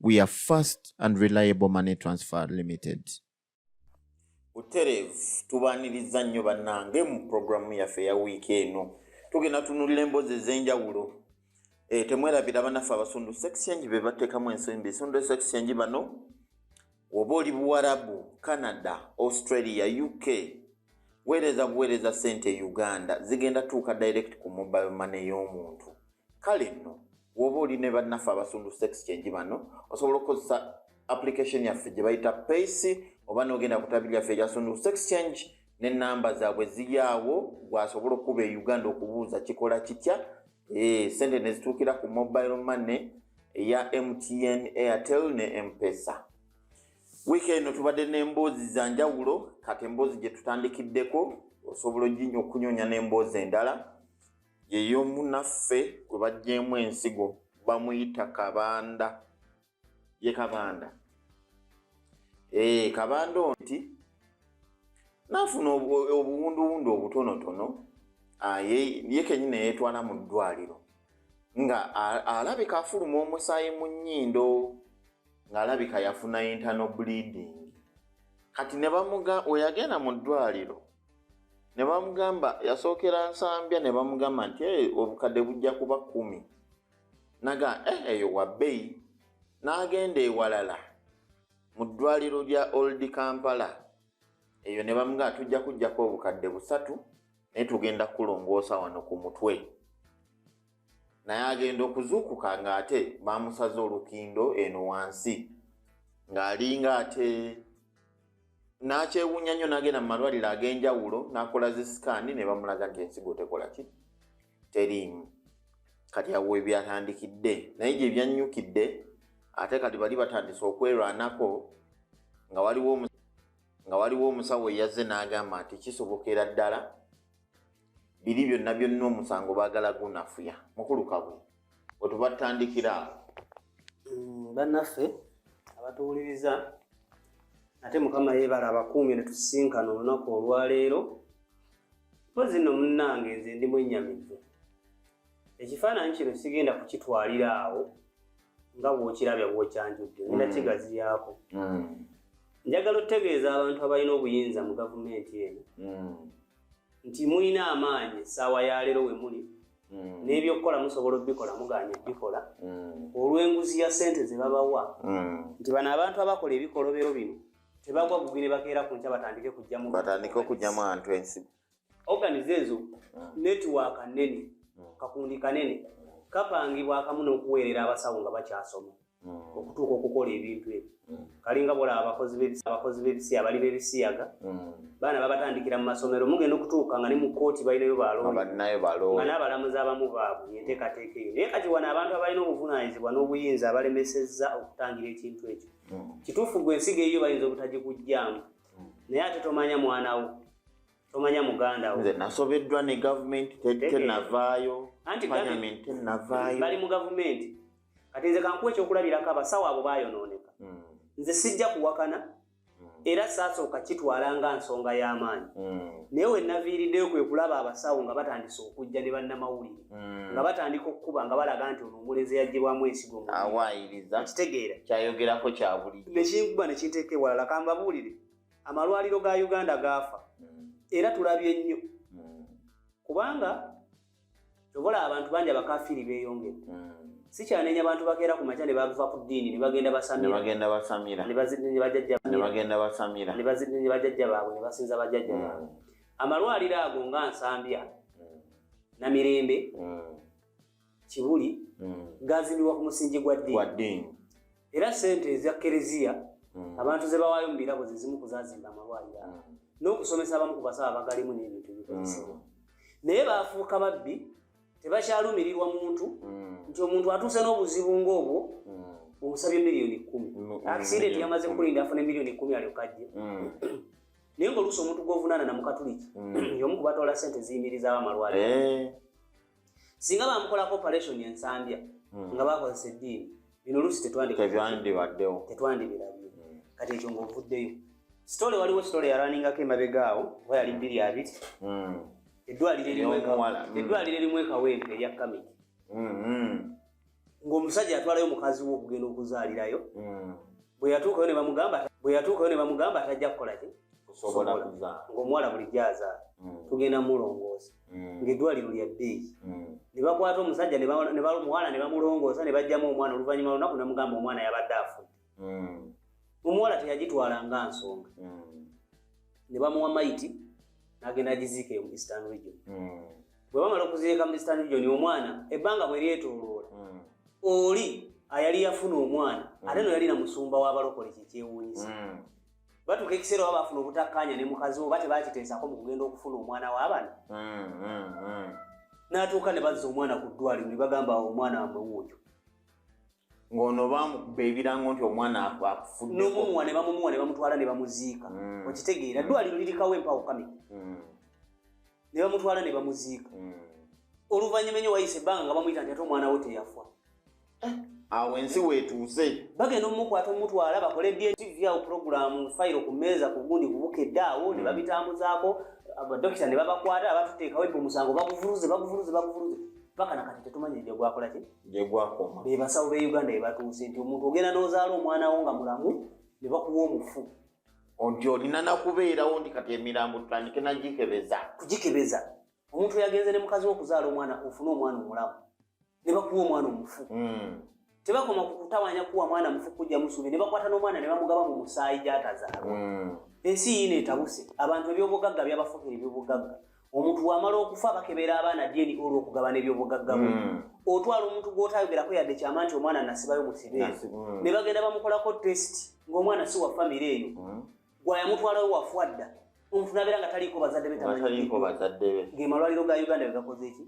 we are fast and reliable money transfer limited butereevu tubaaniriza nnyo bannange mu pulogulaamu yaffe eya wiiki eno tugenda tunulira emboozi ez'enjawulo eh, temwerabira banaffe abasundu sexchange be bateekamu ensonyi besundu sexchange bano woba oli buwarabu canada australia uk weereza buweereza sente e uganda zigenda tuuka direct ku mobile mane y'omuntu kale nno woba oli ne bannaffe abasundu sex change bano osobola okukozesa application yaffe gye bayita pace oba nogenda ku tabi lyaffe erya sundu sex change ne namba zaabwe ziyaawo gwasobola okukuba e uganda okubuuza kikola kitya eh, sente nezituukira ku mobile money eya mtn airtel ne empesa wiiki eno tubadde n'emboozi za njawulo kati emboozi gye tutandikiddeko osobola okunyoonya n'emboozi endala yeyomunaffe gwe bajjeemu ensigo bamuyita kabanda ye kabanda ee eh, kabanda onti nafuna obuwunduwundu obutonotono ah, ye kenyini yetwala mu ddwaliro nga alabika afuluma omusaayi mu nnyindo ng'alabika yafuna intano bleeding kati ne bamuga weyagenda mu ddwaliro ne bamugamba yasookera nsambya ne bamugamba nti e obukadde bujja kuba kumi naga e eh, eyo wabbeyi n'agenda ewalala mu ddwaliro lya old kampala eyo ne bamugamba tujja kujjako obukadde busatu naye tugenda kulongoosa wano ku mutwe naye agenda okuzuukuka ng'ate baamusaze olukindo eno wansi ng'alinga ate n'akyewuunya nnyo n'agenda mu malwaliro ag'enjawulo n'akola zi sikaani ne bamulaga nti ensigo tekola ki teriimu kati awo ebyatandikidde naye gye byannyukidde ate kati bali batandise okwerwanako nga waliwo nga waliwo omusawo eyazze n'agamba nti kisobokera ddala biri byonna byonna omusango bagala gunafuya mukulu kabwe wetubatandikira mm, bannaffe abatuwuliriza ate mukama yebala abakuumye netusinkana olunaku olwaleero mpozi no munnange nze ndi mwenyamivu ekifaananyi kino sigenda kukitwalira awo nga bwokirabya bwokyanjudde ngenda mm. kigaziyaako mm. njagala otutegeeza abantu abalina obuyinza mu gavumenti eno nti mulina amaanyi essaawa ya leero we muli mm. n'ebyokukola musobola obikola mugaanye okubikola mm. olw'enguzi ya ssente ze babawa mm. nti bano abantu abakola ebikolobero bino tebagwa gugi ne bakeera ku nkya batandike kujjamu batandike okujjamu antu ensi organize ezo mm. netiwaaka nnene mm. kakundi kanene kapangibwa akamu n'okuweerera abasawo nga bakyasoma mm. okutuuka okukola ebintu ebyo mm. kalinga bola abakozi bebisiya abali bebisiyaga mm. baana babatandikira mu masomero mugenda okutuuka nga ne mu kooti balinayo balonga n'abalamuzi abamu baabwe enteekateeka eyo naye kati wano abantu abalina obuvunaanyizibwa n'obuyinza abalemesezza okutangira ekintu ekyo kituufu gwe ensigo eyiyo bayinza obutagikugjamu naye ate tomanya mwanawo tomanya mugandawo nze nasobeddwa ne gavumenti tenavaayo anti bali mu gavumenti kati nze kankuwa ekyokulabirako abasawo abo bayonooneka hmm. nze sijja kuwakana hmm. era saasooka kitwala nga nsonga y'amaanyi hmm. naye wenaviiriddeyo kwe kulaba abasawo nga batandise okujja ne bannamawulire nga batandika okukuba nga balaga nti ono omulenzi yaggyibwamu ensigo mukitegeera kyayogerako kyabulijo nekinkuba nekinteeka ewalala kambabuulire amalwaliro ga uganda gaafa era tulabye nnyo kubanga kyobola abantu bangi abakafiiri beyongere hmm. sikyanenya abantu bakeera ku makya nebava ku ddiini nebagenda basamirabagenda basamira nebagenda basamira nebazidinye bajajja baabwe nebasinza bajajja hmm. baabwe amalwaliro ago nga nsambya hmm. namirembe kibuli gazimbiwa ku musingi gwa ddiini era sente eza kereziya hmm. abantu ze bawaayo mu birabo ze zimu kuzazimba amalwaliro ago hmm. n'okusomesa abamu ku basawo abagalimu n'ebintu ebikozesebwa hmm. naye baafuuka babbi tebakyalumirirwa muntu nti omuntu atuuse n'obuzibu ng'obwo omusabye miliyoni kumi akisidenti yamaze kulinda afune miliyoni kumi alyokajje naye ngaoluusi omuntu gwovunaana namukatuliki yomu kubatwala sente ziyimirizaawo amalwaliro eh. singa bamukolako operation ensambya hmm. nga bakozesa eddiini bino oluusi tetwandibaddewo tetwandibirabye hmm. kati ekyo ngaovuddeyo sitole waliwo sitole yalaningako emabega awo oba yali bbiri abiri hmm. eddwaliro erimu ekawempe erya kamiki ng'omusajja yatwalayo mukazi we okugenda okuzaalirayo hmm. bwe yatuukayo ne bamugamba bwe yatuukayo ne bamugamba atajja kukola ki kusobola kuzaala ng'omuwala bulijjo azaala hmm. tugenda mulongoosa hmm. ng'eddwaliro lya bbeeyi ne bakwata omusajja ne bamuwala ne bamulongoosa ne bajjamu omwana oluvannyuma lunaku ne mugamba omwana yabadde afudde mm. omuwala teyagitwala nga nsonga mm. ne bamuwa maiti nagenda agiziika e mu eastern region mm. bwe bamala okuziika mu eastern region omwana ebbanga bwe lyetoloola mm. oli ayali yafuna omwana mm. ate no yalina musumba w'abalokole kyekyewuunyisa mm. batuuka ekiseera oba bafuna obutakkaanya ne mukazi oba tebakiteesako mu kugenda okufuna omwana w'abana mm, mm, mm. n'atuuka ne bazza omwana ku ddwaliro ne bagamba omwana wamwe wuuyo ng'ono baamukuba ebirango nti omwana akufuddn'omumuwa ne bamumuwa ne bamutwala ne bamuziika mm. okitegeera ddwaliro lirikawo empawo kami mm. ne bamutwala ne bamuziika mm. oluvannyuma enyo wayise ebbanga nga bamuyita nti ate omwana we teyafa eh, awo ensi weetuuse bagenda omumukwata omutwala bakole dntv awo puroguramu fayiro ku mmeeza ku gundi kubukedde awo ne babitambuzaako abadokita ne babakwata abatuteekawo ebyo omusango baguvuluze baguvuluze baguvuluze paka nakati tetumanyi nja gwakola ki gyegwakoma be basawo be uganda bebatuuse nti omuntu ogenda nozaala omwana wo nga mulamu ne bakuwa omufu nti olina nakubeerawo nti kati emirambo tutandike nagikebeza kugikebeza omuntu yagenze ne mukazi wokuzaala omwana ofune omwana omulamu ne bakuwa omwana omufu hmm. tebakoma kukutawanya kuwa mwana mufu kujja musubi ne bakwata n'omwana ne bamugaba mu musaayi gyatazaalwa hmm. ensi yiina etabuse abantu ebyobugagga byabafukira ebyobugagga omuntu bwamala okufa bakebeera abaana dyeni olwo okugabana ebyobugagga bwe hmm. otwala omuntu gw'otayogerako yadde kyama nti omwana nasibayo musibe hmm. ne bagenda bamukolako test ng'omwana si wa famire eyo hmm. gwayamutwalayo wafwa dda omuntu nabeera nga taliiko bazadde be tamanyi ge malwaliro ga uganda begakoze eki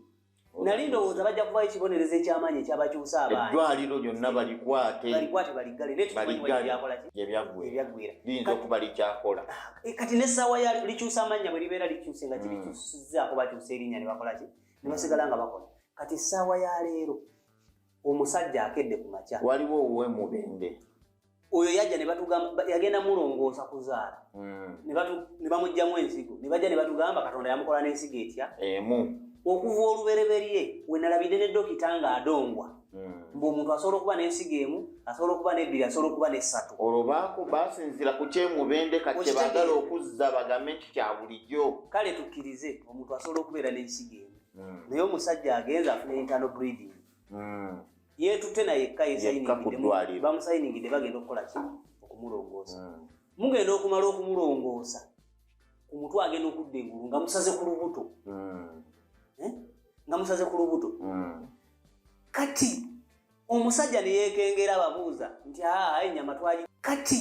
nali ndowooza bajja kubayo ekibonerezo ekyamaanyi ekyabakyusa abaana eddwaliro lyonna balikwate balikwate baliggale naye tukimanyibyakolakibyagwirayinza okuba likyakola ah, eh, kati nessaawa ya likyusa amannya bwe libeera likyuse nga kirikyusizaako hmm. bakyusa erinnya ne bakolaki ne basigala nga bakola kati essaawa ya leero omusajja akedde ku makya waliwo owuwe mubende oyo yajja nebatugamba yagenda mulongoosa kuzaala hmm. ne bamugjamu ensigo ne bajja ne batugamba katonda yamukola n'ensigo etya emu okuva olubereberye wenalabidde ne dokita nga adongwa hmm. mbu omuntu asobola okuba n'ensigo emu asobola okuba n'ebbiri asobola okuba n'essatu olwo baako basinzira ku kyemubende kati kyebagala okuzza bagambe nti kya bulijjo kale tukkirize omuntu asobola okubeera n'ensigo emu hmm. naye omusajja agenze afuna internal breeding hmm. yetutte nayekka bamusayiningidde bagenda okukola ki okumulongoosa hmm. mugenda okumala okumulongoosa ku mutwe agenda okudda engulu nga musaze ku lubuto eh? nga musaze ku lubuto kati omusajja ne yeekengera ababuuza nti aa ennyama twali kati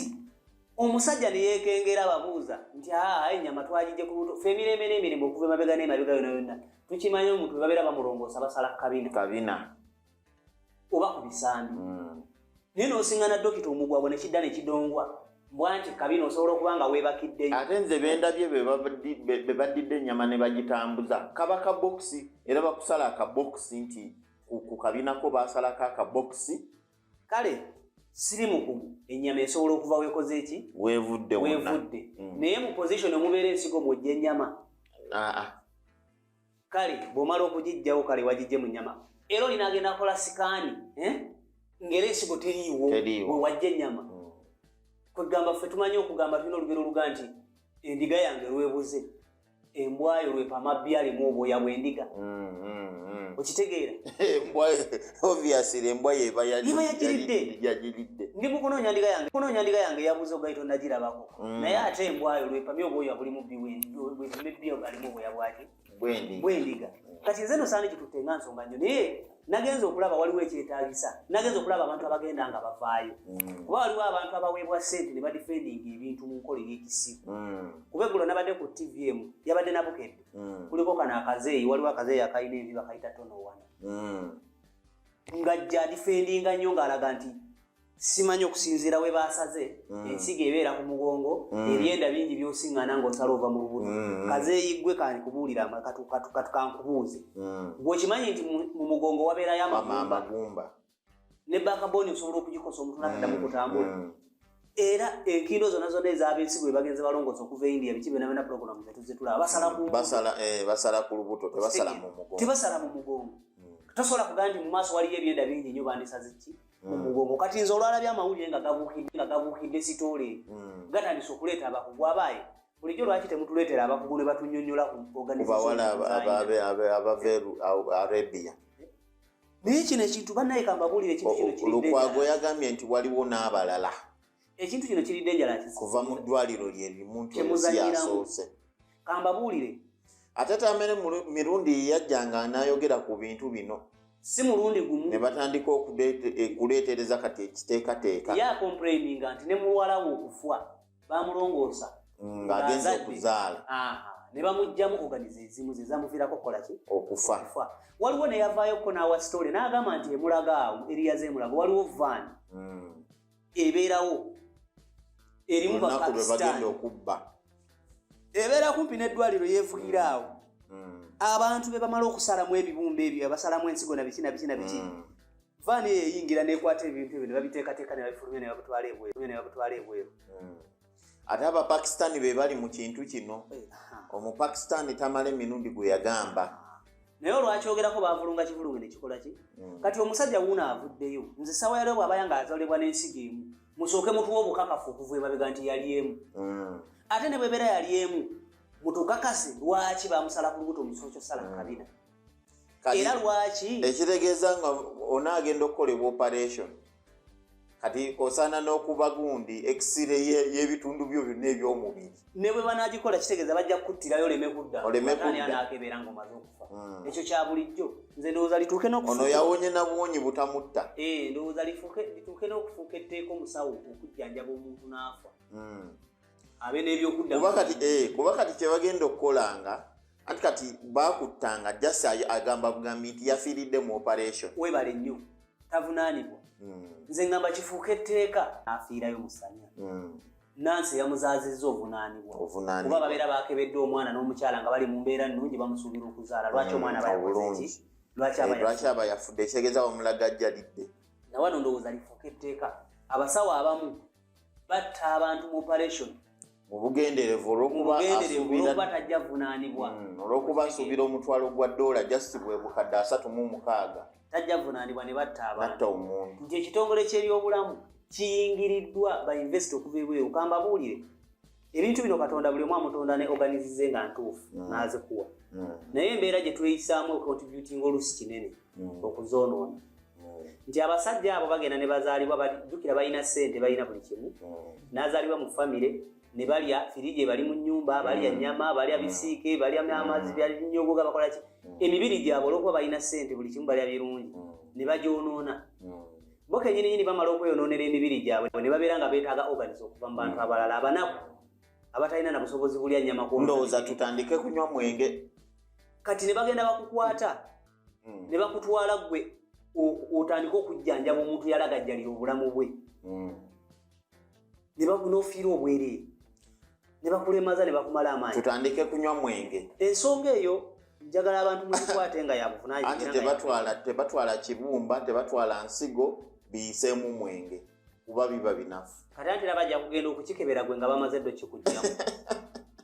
omusajja ne yeekengera ababuuza nti aa ennyama twagijje ku luto fe emirembe n'emirimu okuva emabega n'emabega yona yonna tukimanyi omuntu we babeera bamulongoosa basala kabina kabina oba ku bisambi hmm. naye n'osingana dokita omugwagwa ne kidda ne kidongwa bwanti kabina osobola okuba nga weebakiddeyo ate nze bendabye be baddidde ennyama ne bagitambuza kaba kabokisi era bakusala akabokisi nti ku kabinako baasalako akabokisi kale siri mukumu ennyama esobola okuva weekoze eki weevudde weevudde mm. naye mu position omubeera ensigo mwojja ennyama ah, ah. kale bw'omala okugijjawo kale wagijje mu nyama era olina agenda akola sikaani eh? ngeri ensigo teriiwo wewajja ennyama mm. kwegamba ffe tumanyi okugamba tulina olugero oluga nti endiga yange lwebuze embwayo lwepamabbi alimu obwoya bwendiga mm, mm, mm. okitegeera obviously embwa yeba yagiridde ndi mukunoonya ndiga yange kunoonya ndiga yange yabuza ogaita onagirabako naye ate embwayo lwepamye obwoya bulimu bwebbi alimu obwoya bwaki bwendiga kati nze nosaana kitutte nga nsonga nyo naye nagenze okulaba waliwo ekyetagisa nagenze okulaba abantu abagenda nga bavaayo mm. kuba waliwo abantu abaweebwa sente ne badifendinga ebintu mu nkola eyekisiku mm. kuba eggulo nabadde ku tv emu yabadde nabukedde mm. kuliko kano akazeeyi waliwo akazeeyi akalina envi bakayita tonowana ngajja adifendinga nnyo ng'alaga nti simanyi okusinziira we baasaze mm. ensigo ebeera ku mugongo mm. ebyenda bingi byosiŋŋana ng'osala ova mu lubuto mm. kazeeyiggwe kandi kubuulira katukankubuuze gwe okimanyi nti mu mugongo wabeerayo amagumba ne bakabooni osobola okugikosa omuntu nakaddamu kutambula era enkindo zona zona ezabensi bwe bagenze balongosa okuva e india biki benabena pulogulamu zetuzitulaba basala eh, ku lubuto tebasala mu mugongo tosobola kugamba nti mu maaso waliyo ebyenda bingi nyo bandisazeki mu mugongo kati nze olwalabye amawulire nga gabuukidde nga gabuukidde sitoole hmm. gatandise okuleeta abakugu abaaye bulijjo lwaki temutuleetera abakugu ne batunyonyola kubawala abaveru arabia naye kino ekintu banaye kambabuulire kintu kino kiridde lukwago yagambye nti waliwo n'abalala ekintu kino kiri dangerous kuva mu ddwaliro lye limuntu yasoose kambabuulire ate tamere mirundi yeyajjanga anayogera ku bintu bino si mulundi gumu ne batandika okuleetereza eh, kati ekiteekateeka ya complaininga nti ne muwala we okufwa bamulongoosa mm, ng'agenza okuzaala ne bamugjamu oganize ezimu ze zamuviirako okukola ki okufa waliwo neyavaayokko n'awa sitole n'agamba nti emulaga awo eriyaze emulaga waliwo vaani mm. ebeerawo erimu bapakistan okubba ebeera kumpi n'eddwaliro yeevugira awo hmm. abantu be bamala okusalamu ebibumba ebyo abasalamu ensigo nabiki nabiki nabiki hmm. vaani eyo eyingira nekwata ebintu ebyo ne babiteekateeka ne babifulumya ne babutwala ebweru ne babutwala ebweru hmm. ate abapakistani be bali mu kintu kino eh, omupakistani tamala emirundi gwe yagamba naye olwakyogerako bavulunga kivulunge nekikolaki mm. kati omusajja wuuno avuddeyo nze sawa yaleo bwabaya nga azalibwa n'ensiga emu musooke mutuwa obukakafu okuva emabega nti yali emu mm. ate ne bwebeera yali emu mutukakase lwaki bamusala ku lubuto omusolo kyosala mm. kabina era lwaki ekitegeeza nga onaagenda okukolebwa operation kati osaana n'okuba gundi ekisire y'ebitundu byo byonna eby'omubiri ne bwe banaagikola kitegeeza bajja kukuttirayo oleme kudda oleme kuddaanaakebeera nga omaze okufa hmm. ekyo kya bulijjo nze ndowooza lituuke n'okuono yawonye na buwonyi butamutta eh, ndowooza lituuke n'okufuuka etteeka omusawo okujjanjaba omuntu n'afa hmm. kuba kati eh, kuba kati kyebagenda okukolanga anti kati bakuttanga just agamba bugambi nti yafiiridde mu operation webale nnyo tavunaanibwa hmm. nze ngamba kifuuka etteeka afiirayo musanya hmm. nansi eyamuzaazizza ovunaanibwa kuba babeera bakebedde omwana n'omukyala nga bali mu mbeera nnungi bamusuubira okuzaala lwaki hmm, omwana bayakozeeki lwaki eh, aba yafudde ekitegeeza bamulagajjalidde nawano ndowooza lifuuka etteeka abasawo abamu batta abantu mu operation mubugenderevu olwokuba tajja vunanibwa hmm, olwokuba asuubira omutwalo gwa dola just bwe bukadde asatu mu mukaaga tajja vunanibwa ne batta abantu omuntu nti ekitongole kyebyobulamu kiyingiriddwa bainvesiti okuva ebweru kambabuulire ebintu bino katonda buli omu amutonda ne organizize nga ntuufu mm. n'azikuwa mm. naye embeera gye tweyisaamu ocontributinga olusi kinene mm. okuzoonoona nti abasajja abo bagenda ne bazaalibwa bajjukira balina ssente balina buli kimu n'azaalibwa mu famire ne balya firiji ebali mu nnyumba balya nnyama balya bisiike balya amazzi byalinyogoga bakola ki emibiri gyabwe olwokuba balina ssente buli kimu balya birungi ne bagyonoona bo kenyininyini bamala okweyononera emibiri gyabwe ne babeera nga beetaaga organis okuva mu bantu abalala abanaku abatalina na busobozi bulya nyama kundowooza tutandike kunywa mwenge kati ne bagenda bakukwata hmm. ne bakutwala gwe otandike okujjanjaba omuntu yalagajjalira obulamu bwe hmm. ne bagunofiira obwereere ne bakulemaza ne bakumala amaanyi tutandike kunywa mwenge ensonga eyo njagala abantu muzikwate nga yabuvunaanti tebatwala tebatwala kibumba tebatwala nsigo biyiseemu mwenge kuba biba binafu kati antera bajja kugenda okukikebera gwe nga bamaze ddo kikugjamu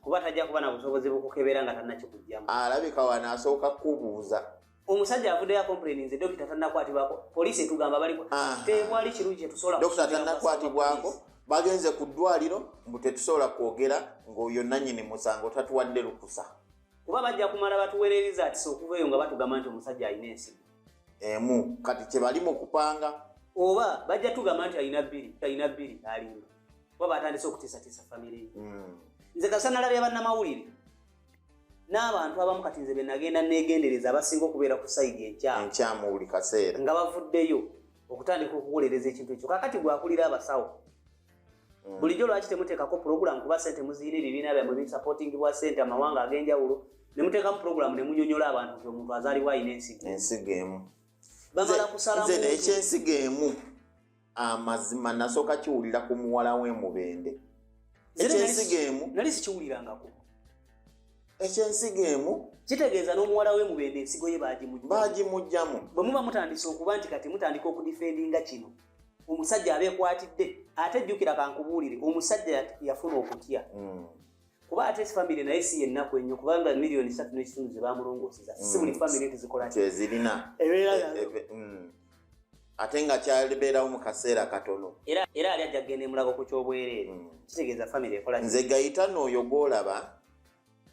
kuba tajja kuba na busobozi bukukebera nga tanakikugjamu alabika wanaasooka kubuuza omusajja avuddeyo akomplaininze dokita tannakwatibwako poliisi etugamba baliko tewali kirungi kyetusobola dokita tannakwatibwako bagenze ku ddwaliro mbu tetusobola kwogera ng'oyo nannyini musango tatuwadde lukusa kuba bajja kumala batuwere results okuva eyo nga batugamba nti omusajja alina ensigo emu kati kyebali mu kupanga oba bajja tugamba nti alina bbiri alina bbiri alimba kuba batandise okutiisatiisa famiry hmm. nze kasanalabya bannamawulire n'abantu abamu kati nze benagenda negendereza abasinga okubeera ku saidi enkyamu buli kaseera nga bavuddeyo okutandika okuwolereza ekintu ekyo kakati gwakulira abasawo mm. bulijjo lwaki temuteekako pulogulamu kuba sente muziyina ebibiina byamwe bisapotingi bwa sente amawanga ag'enjawulo ne muteekamu pulogulamu ne munyonyola abantu nti omuntu azaalibwa alina ensigo ensigo emu bamala kusalamu ekyensigo emu amazima nasooka kiwulira ku muwala w'emubende ekyensigo emu nali sikiwulirangako ekyensigo emu kitegeeza n'omuwala w'emubende ensigo ye baagimugyamu bwe muba mutandise okuba nti kati mutandika okudifendinga kino omusajja abeekwatidde ate jjukira kankubuulire omusajja yafuna okutya hmm. kuba ate famire naye si yennaku ennyo kubanga miliyoni satu n'ekitundu ze bamulongooseza si buli mm. famire nti zikola kyezirina eh, eh, eh, mm. ate nga kyalibeerawo mu kaseera katono era ali ajja kugenda emulago ku kyobwereere mm. kitegeeza famire ekola nze gayitano oyo gwolaba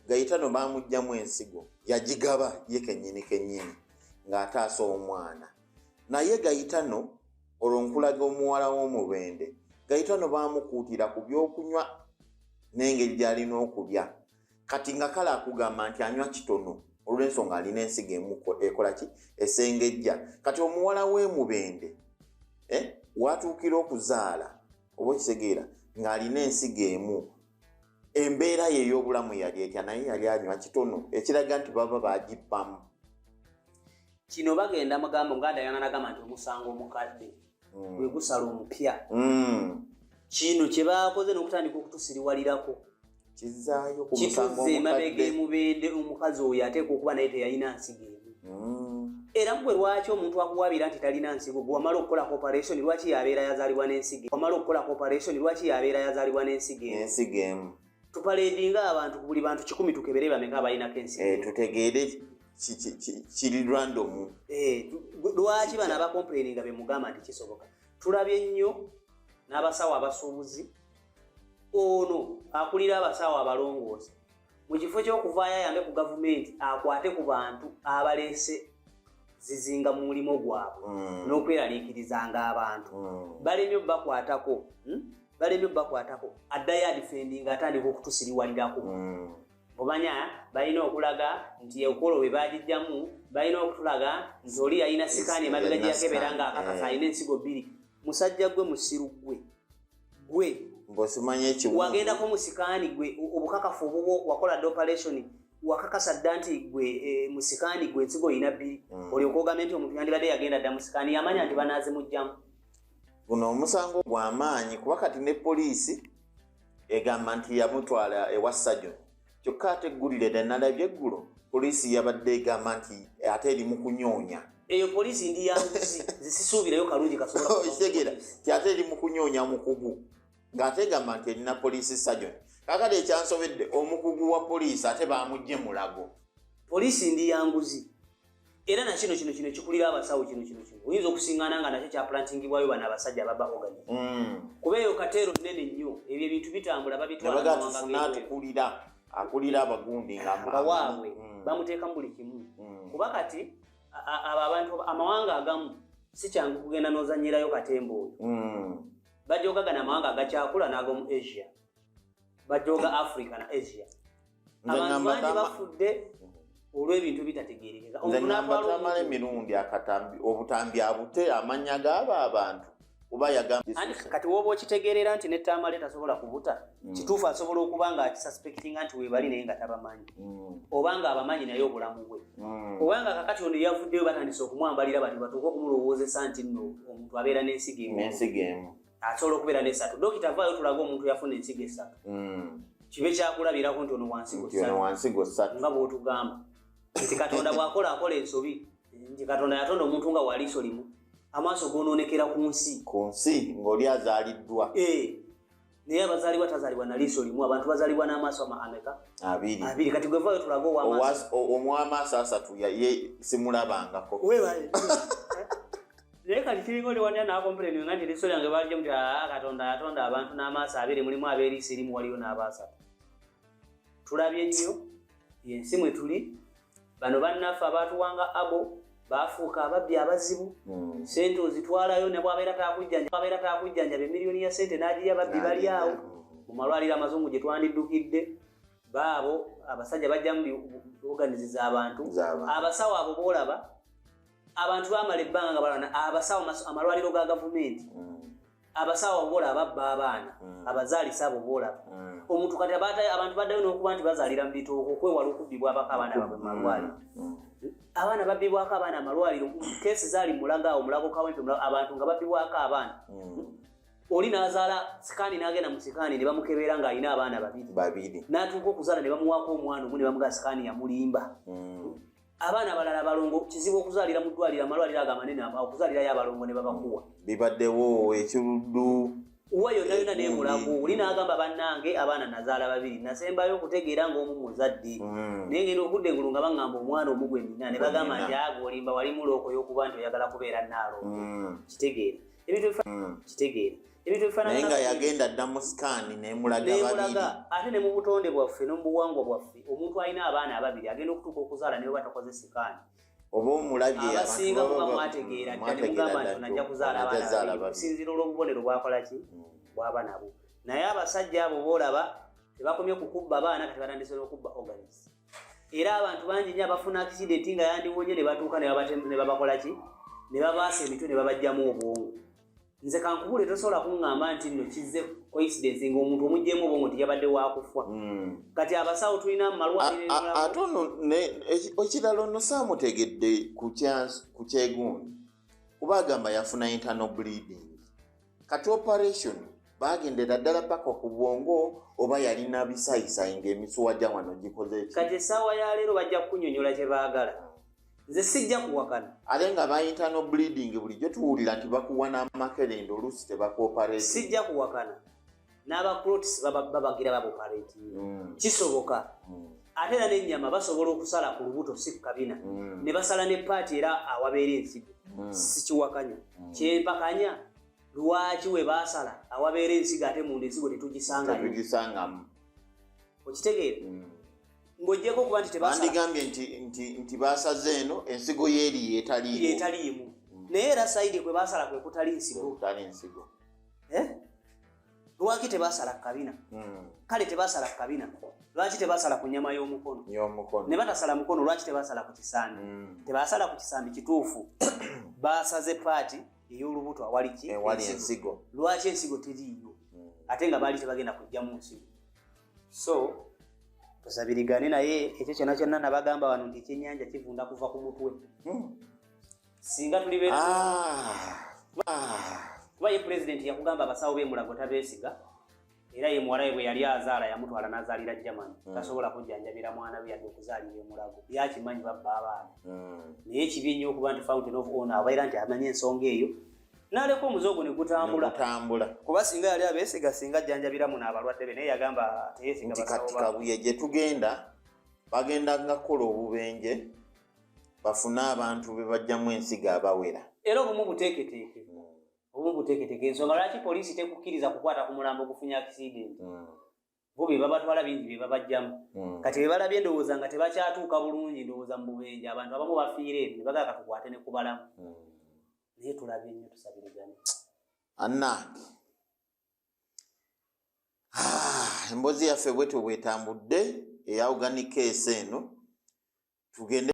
gayitano bamugjamu ensigo yagigaba ye kenyini kenyini ng'ataasa omwana naye gayitano olwo nkulaga omuwala w'omubende gayita no baamukuutira ku byokunywa n'engeri gy'alina okulya kati nga kale akugamba nti anywa kitono olw'ensonga alina ensiga emuko ekola ki esengejja kati omuwala w'emubende eh, watuukira okuzaala oba okitegeera ng'alina ensiga emu embeera ye ey'obulamu yali etya naye yali anywa kitono ekiraga nti baba bagibbamu kino bagenda mugambo nga dayana nagamba nti omusango omukadde mm. gwe gusala omupya mm. kino kye bakoze n'okutandika okutusiriwalirako kizaayo kumusango omukadde kituze emabega emubende omukazi oyo ateeka okuba naye teyalina nsigeemu era gwe lwaki omuntu akuwabira nti talina nsigo gwe wamala okukola cooperation lwaki yabeera yazalibwa n'ensigo wamala okukola cooperation lwaki yabeera yazalibwa n'ensigo ensigo emu tupaledinga abantu buli bantu kikumi tukebere bameka abalinako ensigo eh, tutegeere kiri random eh, lwaki bano abacomplaininga bemugamba nti kisoboka tulabye nnyo n'abasawo abasuubuzi ono akulira abasawo abalongoosa mu kifo ky'okuvaayo ayambe ku gavumenti akwate ku bantu abaleese zizinga mu mulimu gwabwe mm. n'okweraliikirizanga abantu mm. balemye obubakwatako hmm? balemye obubakwatako addayo adifendi nga atandika okutusiriwalirako mm. obanya balina okulaga nti ekolo we bagijjamu balina okutulaga nti oli yalina sikaani emabega gyeyakebera nga akakasa eh. alina ensigo bbiri musajja gwe musiru gwe gwe ngosimanyi ekiwundu wagendako musikaani gwe obukakafu obubwo wakola dda operation wakakasa dda nti gwe e, musikaani gwe ensigo olina bbiri mm. olyoka ogambe nti omuntu yandibadde yagenda dda musikaani yamanya nti banaazi mujjamu guno omusango gwamaanyi kuba kati ne poliisi egamba nti yamutwala ewa sajoni kyokka ate eggulire dda nalabye eggulo poliisi yabadde egamba nti ate eri mu kunyoonya eyo poliisi ndi yanguzi zisisuubirayo kalungi kasobolakitegera oh, ti ate eri mu kunyoonya mukugu ng'ate egamba nti erina poliisi sajoni kakati ekyansobedde omukugu wa poliisi ate bamugye mulago poliisi ndi yanguzi era nakino kino kino kikulira abasawo kino kino kino oyinza okusingana nga nakyo kyaplantingibwayo bano abasajja ababa ogani mm. kuba eyo kateero nene nnyo ebyo ebintu bitambula babitwalatukulira akulira abagundi ngawaabwe mm. bamuteekamu buli kimu mm. kuba kati abo abantu amawanga agamu sikyangu kugenda nozanyirayo katemba oyo bajogagana amawanga agakyakula n'ag'omu asia bajoga africa na asia abantu bangi bafudde mm-hmm. olw'ebintu bitategerekeka nzanambatamala emirundi akatambi obutambi abute amanya gaabo abantu oba yagambakati woba okitegeerera nti netamale tasobola kubuta mm. kituufu asobola okuba nga akisuspectinga nti webali naye nga tabamanyi mm. oba nga abamanyi naye obulamu bwe mm. oba nga kakati ono yavuddeyo batandise okumwambalira bati batuuka okumulowoozesa nti no omuntu abeera n'ensiga emu asobola okubeera nesatu dokita vaayo tulaga omuntu yafuna ensigo esatu hmm. kibe kyakulabirako nti ono wansigo satu nga bwotugamba nti katonda bwakola akola ensobi nti katonda yatonda omuntu nga waliiso limu amaaso gonoonekera ku nsi ku nsi ng'oli azaaliddwa eh. naye abazalibwa tazalibwa na liiso limu abantu bazalibwa n'amaaso ameka abiri abiri kati gwe vaayo tulaga owamaaso asatu simulabangako naye kati kiringa oli wanja nakompuleni nga nti liso lyange balijemu ti aa ah, katonda yatonda abantu n'amaaso abiri mulimu abeeriisi erimu waliyo n'abaasatu tulabye nnyo yensi mwe tuli bano bannaffe abaatuwanga abo baafuuka ababbi abazibu hmm. sente ozitwalayo nebwabeera takujjanjababeera takujjanjaba emiliyoni ya sente n'agirya babbi bali awo hmm. mu malwaliro amazungu gye twandiddukidde baabo abasajja bajjamu oganizi z'abantu abasawo abo boolaba abantu bamala ebbanga nga balwana abasawo amalwaliro ga gavumenti mm. abasawo bola ababba abaana mm. abazaalisa abo bola mm. omuntu kati abantu baddayo n'okuba nti bazaalira mu bitooko okwewala okubbibwabako abaana babwe mu malwaliro abaana babbibwako abaana amalwaliro keesi zaali mulaga awo mulago kawempe abantu nga babbibwako abaana oli n'azaala sikaani n'agenda mu sikaani ne bamukebeera ng'alina abaana babiri n'atuuka okuzaala ne bamuwaako omwana omu ne bamugaa sikaani yamulimba abaana balala balongo kizibu okuzalira mudwaliro amalwaliro ago amanene okuzalirayo abalongo ne babakuwa bibaddewo ekiruddu wa yonna yonna nemulago oli nagamba bannange abaana nazaala babiri nasembayo okutegeera ngaomu muzadde mm. naye ngenda okudda engulu nga baŋŋamba omwana omu gwe nina ne bagamba nti ago olimba wali mulookoyokuba nti oyagala kubeera naalo mm. kitegeere ebintu mm. kitegeere naye nga yagenda dda mu sikaani nemulaga babiri ate ne mu butonde bwaffe ne mu buwangwa bwaffe omuntu alina abaana ababiri agenda okutuuka okuzaala naye oba takoze sikaani oba omulabye abasinga muba mwategeera dda ne mugamba nti onajja kuzaala abaana babiri okusinziira olw'obubonero bwakola ki hmm. bwaba nabo naye abasajja abo boolaba tebakomye kukubba abaana kati batandise n'okubba organis era abantu bangi nyo abafuna akisidenti nga yandiwonye ne batuuka ne babakola ki ne babaasa emitwe ne babajjamu obwongo nze kankubule tosobola kuŋŋamba nti nno kizze coincidence ng'omuntu omuggyemu obwongo nti yabadde wakufa hmm. kati abasawo tulina mumalwate ono ekirala ono saamutegedde ku kyegundi kuba agamba yafuna internal bleeding kati operation bagendera ddala paka ku bwongo oba yalina bisayisayi ng'emisuwa gya wano gikoze kati essaawa ya leero bajja kukunyonyola kye baagala nze sijja kuwakana ate nga bayita no bleeding bulijjo tuwulira nti bakuwa n'amakerenda oluusi tebakuoparate sijja kuwakana n'abaclotis babagira babuparate mm. kisoboka mm. ate era n'ennyama basobola okusala ku lubuto si ku kabina mm. ne basala ne paati era awabeera ensigo sikiwakanya kyempakanya lwaki we baasala awabeera ensigo ate munda ensigo tetugisangamu okitegeera ng'ogyeko okuba nti tebandigambye nti nti nti baasaze eno ensigo yeeri yetaliimu yetaliimu mm. naye era saidi kwe baasala kwe kutali nsigo kutali nsigo eh? lwaki tebasala kukabina hmm. kale tebasala kukabina lwaki tebasala ku nyama y'omukono ne batasala mukono lwaki tebasala ku kisambi hmm. tebasala ku kisambi kituufu basaze paati ey'olubuto awaliki eh, ensigo lwaki ensigo teriiyo hmm. ate nga baali tebagenda kujjamu nsigo so tusabirigane naye ekyo kyona kyonna nabagamba wano nti ekyenyanja kivunda kuva ku mutwe hmm. singa tuli be ah. ah. kuba ye pulezidenti yakugamba abasawo bemulago tabesiga era ye muwalawe bwe yali azaala yamutwala nazaalira jamani mm. tasobola kujjanjabira mwana we yadde okuzaalira emulago yakimanyi babba abaana mm. naye kibi nnyo okuba nti fountain of on abaira nti amanyi ensonga eyo naleka omuze ogwo negutambula kuba singa yali abesiga singa ajjanjabira muno abalwadde be naye yagamba teyesiganti kati kabuye gye tugenda bagenda nga kukola obubenje bafune abantu be bajjamu ensiga abawera era obumu buteeketeeke hmm. obumu buteeketeeke ensonga lwaki poliisi tekukkiriza kukwata ku mulambo gufunye akisidenti hmm. bo be babatwala bingi be babajjamu hmm. kati be balabye ndowooza nga tebakyatuuka bulungi ndowooza mu bubenje abantu abamu bafiire ebyo ne bagala katukwate ne kubalamu hmm. naye tulabye nnyo tusabirigane anange ah, emboozi yaffe bwetyo bwetambudde eyawuganika ese eno tugende